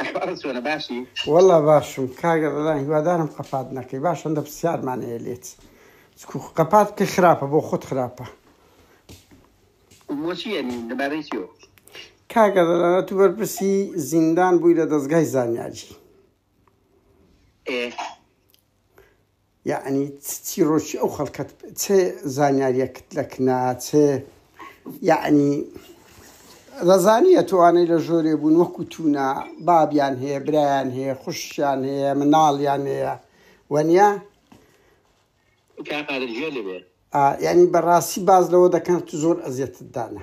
ئەحوالت چۆنە باشی؟ وەڵا باشم کاک ڕەلان هیوادارم قەپات نەکەی باش هەندە پرسیارمان هەیە لێت چکو قەپات کە خراپە بۆ خۆت خراپە بۆچی یعنی لەبارەی چیەوە؟ کاک ڕەلان تو بەرپرسی زیندان بووی لە دەزگای زانیاری ئێ یەعنی چ چیڕۆکی ئەو خەڵکەت چ زانیاریەکت لە کنا چ یەعنی دەزانیە توانەی لە ژۆرێ بوون وەکو تونا بابیان هەیە برایان هەیە خوشیان هەیە مناڵیان هەیە وەنیا کاقادر گوێ لێ بێ. ئا یەعنی بەڕاستی باس لەوە دەکەن زۆر ئەزیەتت دانا.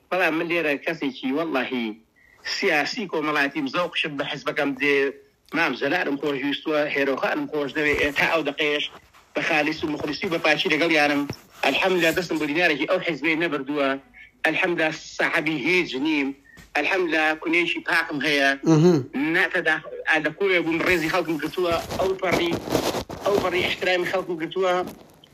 بەڵام من لێرە کەسێکی وەڵڵاهی سیاسی کۆمەڵاتیم زەوقشم بە حزبەکەم دێ مام جەلالم خۆش ویستوە هێرۆ خانم خۆش دەوێ ئێ تا ئەو دەقەیەش بە خالیس و موخلیسی و بە پاکی لەگەڵیانم الحمدللە دەستم بۆ دینارێکی ئەو حزبەی نەبردوە الحمدللە سەحەبی هیچ نیم الحمدللە کونێکی پاکم هەیە نە تەداخل لە کوێ بووم ڕێزی خەڵکم گرتوە ئەو پەڕی ئەو پەڕی ئیحترامی خەڵکم گرتوە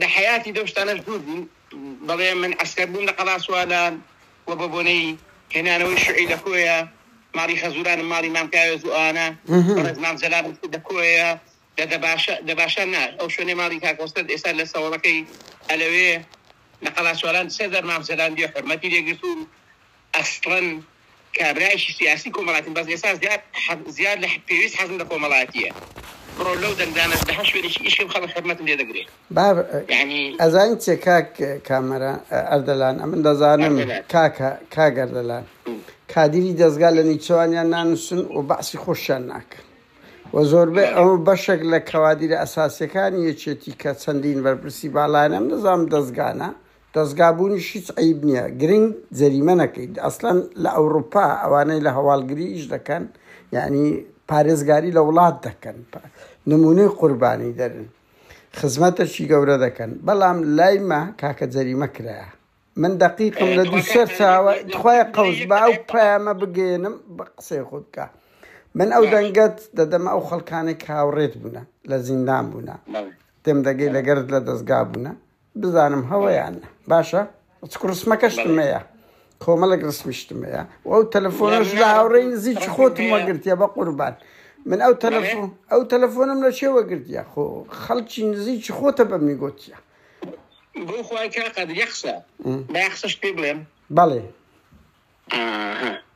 لە حەیاتی لەو شتانەش دوور بوو، دەڵێ من عەسکەر بووم لە قەڵا سوالان و بە بۆنەی هێنانەوەی شوعی لە کۆیە ماڵی خەزورانم ماڵی مام کاوێز و ئەوانە بەڕێز مام جەلال لە کۆیە لە دەباشە دەباشە نا ئەو شوێنەی ماڵی کاک مەسرەت ئێستا لە سەوەڵەکەی ئەلەوێ لە قەڵا سوالان سێ دەرمام جەلال بێ حورمەتی لێ گرتووم ئەسڵەن کابرایەکی سیاسی کۆمەڵاتیم بەس ئێستا زیاد زیاد لە پێویست حەزم لە کۆمەڵاتیە بڕۆ لەو دەنگدانە لە هەر شوێنێکی ئیشکەم خەڵک خەرمەتم لێ دەگرێ بار یانی ئەزانی چیە کاک کامەران ئە، ئەردەلان ئەمن دەزانم ئەردەلان. کاکە کاک ئەردەلان کادیری دەزگا لە نیچەوانیان نانوسن و بەعسی خۆشیان ناکەن و زۆربەی بەڵێ. ئەو بەشەک لە کەوادیرە ئەساسیەکانی یەکێتی کە چەندین بەرپرسی باڵایانە ئەمن دەزانم دەزگانە دەزگا بوونیش هیچ عەیب نیە گرنگ جەریمە نەکەیت ئەسلەن لە ئەوروپا ئەوانەی لە هەواڵگری ئیش دەکەن یانی پارێزگاری لە وڵات دەکەن نمونەی قوربانی دەرن خزمەتەکی گەورە دەکەن بەڵام لای مە کاکە جەریمە کرایە من دەقیقم لە دوو سەر چاوە خخوای قەوز با و پەیامە بگەێنم بە قسەی خودکە من ئەو دەنگەت دەدەمە ئەو خەڵکانێک هاوڕێت بوونە لە زیندان بوونە تێم دەگەی لەگەرت لە دەستگا بوونە بزانم هەڵە یان نا باشە چ ڕسمەکە شتمەیە کۆمەڵک ڕسمی شتمەیە و ئەو تەلەفۆنش لە هاوڕێی نزیک خۆتم وەگرتیە بە قوربان من ئەو تەلەفۆن ئەو تەلەفۆنم لە چێوە گرتیە خۆ خەڵکی نزیکی خۆتە بە منی گوتیە بۆ خۆی کا قەدر یەخسە بە یەخسەش پێ بڵێم بەڵێ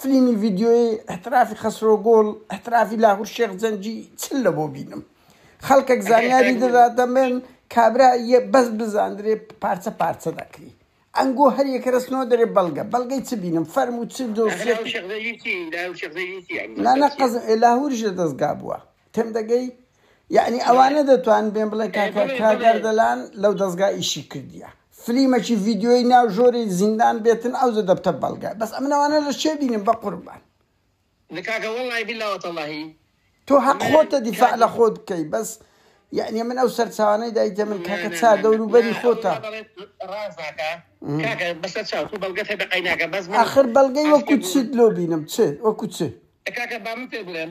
فلیمی ڤیدیۆیی احترافی خەسرۆ گوڵ احترافی لاهور شێخ جەنگی چ لەبۆ بینم خەڵکەک زانیاری دەدا دەمێن کابرا یە بەس بزاندرێ پارچە پارچە دەکری ئەنگۆ هەر یەکە رەسنەوە دەرێ بەڵگە بەڵگەی چ بینم فەرموو چ دۆسیەت نانە قەز لاهوریش لە دەستگا بووە تێمدەگەی؟ یەعنی ئەوانە دەتوان بێن بڵێ کاکە کاک ئەردەلان لەو دەزگا ئیشی کردیە فلیمەکی ڤیددیۆی ناو ژۆری زیندان بێتن ئەو زە دەبتە بەڵگە بەس ئەم نەوانە لە چێ بینم بە قوربان نکاکە وەڵی بلا وەتەڵی تۆ هەق خۆتە دیفاع لە خۆت بکەی بەس یعنی من ئەو سەرچوانەی دایتە من کاکە چا دەوروبەری خۆتە آخر بەڵگەی وەکو چیت لۆ بینم چ وەکو چ کاکە بامن پێ بڵێن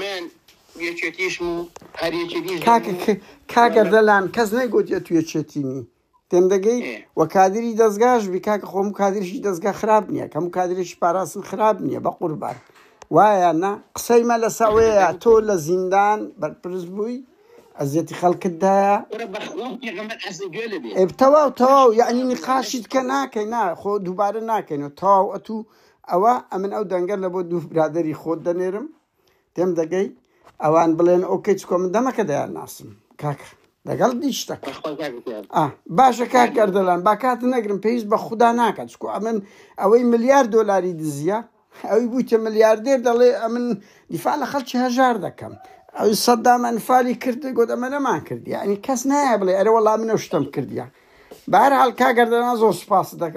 من یەکێتیشم و هەر یەکێتیش دەم کاکە و ک کاک وەلە ئەردەلان کەس نەیگۆت ئەتو یەکێتی نی تێم دەگەی ئێ وە کادری دەزگاش بی کاکە خۆ هەموو کادرێکی دەزگا خراپ نیە هەموو کادرێکی پاراستن خراپ نیە بەقوربان وایە نا قسەی مە لە سە ئەوێ یە تۆ لە زیندان بەرپرس بووی ئەزێتی خەلکت دایە برا بە خوا پێغەمبەر عەزێت گوێ لێ بێ ئێ تەواو تەواو یانی نقاشیت کە ناکەی نا خۆ دووبارە ناکەینەوە تەواو ئەتوو ئەوا ئەمن ئەو دەنگە لە بۆ دوو برادەری خۆت دەنێرم تێم دەگەی ئەوان بڵێن ئەو کەچ کۆ من دەمەکە دەیان ناسم کاکە لەگەڵ دیشتەک باشە کاک گەردەلان باکات نەگرم پێویست بە خوددا ناکات چکو ئەمن ئەوەی ملیار دۆلاری دزیە ئەوی بووتە ملیاردێر دەڵێ ئەمن دیفاع لە خەڵکی هەژار دەکەم ئەو سەددام ئەنفالی کرد گوت ئەمە نەمان کرد یعنی کەس نایە بڵێ ئەرە وەڵام منە شتم کردیان بارحال کاگەردەنا زۆر سپاس دەکەم